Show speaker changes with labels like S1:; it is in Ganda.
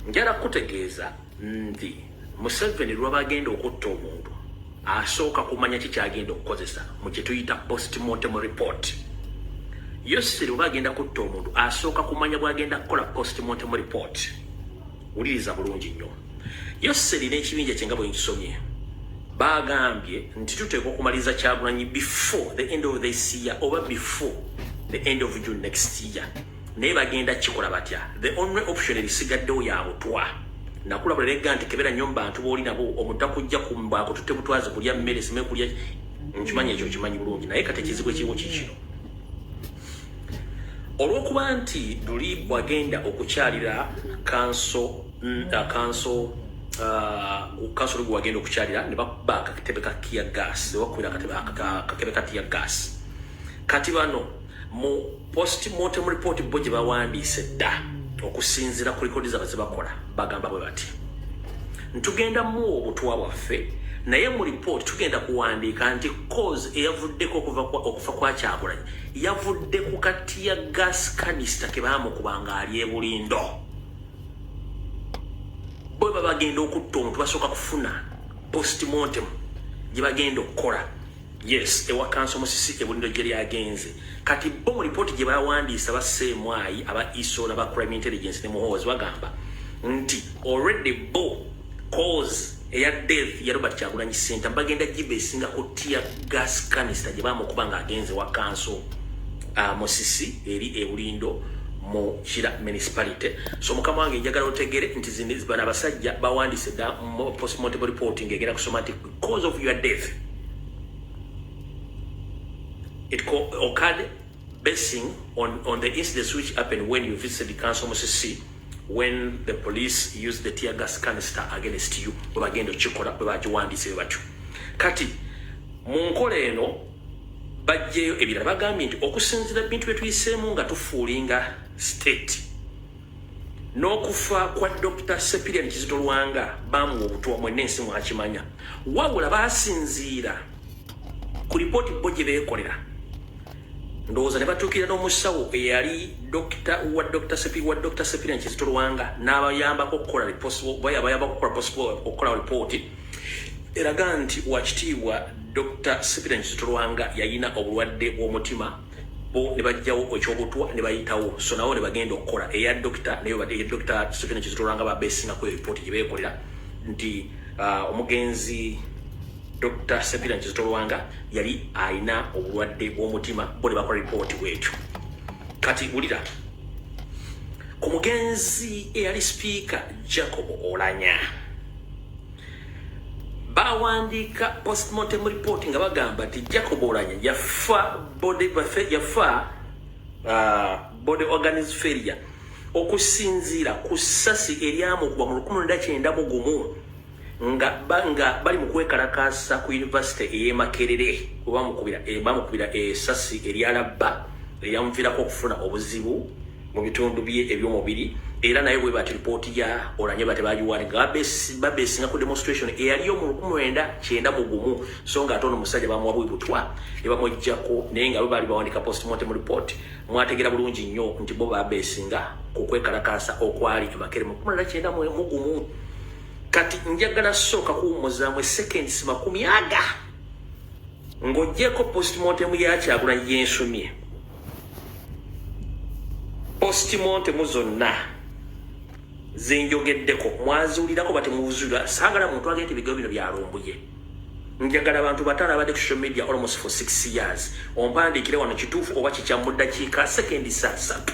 S1: njala kutegeeza nti museveni lwaba agenda okutta omuntu asooka kumanya ki kyagenda okukozesa mu kyetuyita postmortem report yoseri oba agenda kutta omuntu asooka kumanya bwagenda kukola postmortem report wuliriza bulungi nnyo yoseri n'ekibinja kyenga bwenkisomye bagambye nti tuteekwa okumaliriza kyagulanyi before the end of this year oba before the end of june next year naye bagenda kikola batya the only option ebisigaddewo yabutwa nakula buleregga nti kebera nyo mubantu booli nabo omuta kujja kumbaako tutte butwazi kulya mmere sime kulya nkimanyi ekyo kimanyi bulungi naye kati ekizibu ekiriwo kikino olwokuba nti luli wagenda okukyalira kanso mm, uh, kanso uh, kanso lugu wagenda okukyalira ne bakuba akakitebe ka tiya gas ne bakubira akakebe ka tiya gas kati bano mu postmortem report bo gye bawandiise dda okusinziira ku likodi zaba zebakola bagamba bwe bati ntugenda muwa obutwa bwaffe naye mu report tugenda kuwandiika nti cause eyavuddeko okufa kwa kyagulanyi yavudde ku katiya gas kanista ke baamukuba nga ali ebulindo bwe babagenda okutta omuntu basooka kufuna postmortem gye bagenda okukola Yes, ewa kanso musisi ebundo jeri agenze. Kati bo mu report gye bawandiisa ba Semwayi aba ISO na ba crime intelligence ne muhozi bagamba nti already bo cause eya death ya Robert Kyagulanyi Senta bagenda jibe singa ko tear gas canister gye bamukuba nga agenze wa kanso uh, musisi eri ebulindo mu kira municipality so mukama wange njagala otegere nti zino bana basajja bawandise da postmortem reporting egera kusoma nti cause of your death it occurred basing on, on the incidents which happened when you visited council musisi when the police used the tear gas canister against you bwebagenda okikola bwebagiwandiise bwe batyo kati mu nkola eno bajjeeyo ebirala bagambye nti okusinzira bintu byetuyiseemu nga tufuulinga state n'okufa kwa Dokita Sepirian Kizito Lwanga baamuwa obutwa mwenna ensi mwakimanya wabula baasinziira ku lipooti bo gye beekolera ndowooza ne batuukirira n'omusawo eyali dokita wa Dokita Sepi wa Dokita Sepirian Kizito Lwanga n'abayambako okukola bayambako okukola okukolawo lipooti eraga nti wakitiibwa Dokita Sepirian Kizito Lwanga yalina obulwadde bw'omutima bo ne bajjawo ekyobutwa ne bayitawo so nawo ne bagenda okukola eya dokita naye bade dokita Stephen Kizitulanga ba besinga ku report gye beekolera nti uh, omugenzi Dr. Sepira Kizitulanga yali alina obulwadde bw'omutima bo ne bakola report bwekyo kati wulira ku mugenzi eyali sipiika Jacob Olanya bawandiika postmortem report nga bagamba nti jacob olanya yafa body bafe yafa uh, body organis failure okusinziira ku ssasi eryamugwa mu lukumi lwenda kyenda mu gumu nga nga bali mu kwekalakaasa ku yunivasite ey'emakerere webamukubira bamukubira esasi eryalabba eryamuviirako okufuna obuzibu mu bitundu bye eby'omubiri era naye bwe bati lipooti ya olanye bate bagiwani nga babesinga ku demonstration eyaliyo mu lukumi lwenda kyenda mu gumu so nga ate ono musajja bamuwa bwibutwa ne bamuggyako naye nga babaali bawandika postmortem report mwategeera bulungi nnyo nti bo babesinga ku kwekalakaasa okwali emakere mu kumi lwenda kyenda mu gumu kati njagala sooka kuwummuzaamu eseconds makumi aga ng'ogyeko postmortem yakyagulanyi yensumye postmortem zonna zenjogeddeko mwaziwulirako batemuwuzulira saagala muntu agenda ebigo bino byalumbuye njagala abantu batano abadde ku social media almost for six years ompandiikire wano kituufu oba kikyamuddakiika sekendi saa satu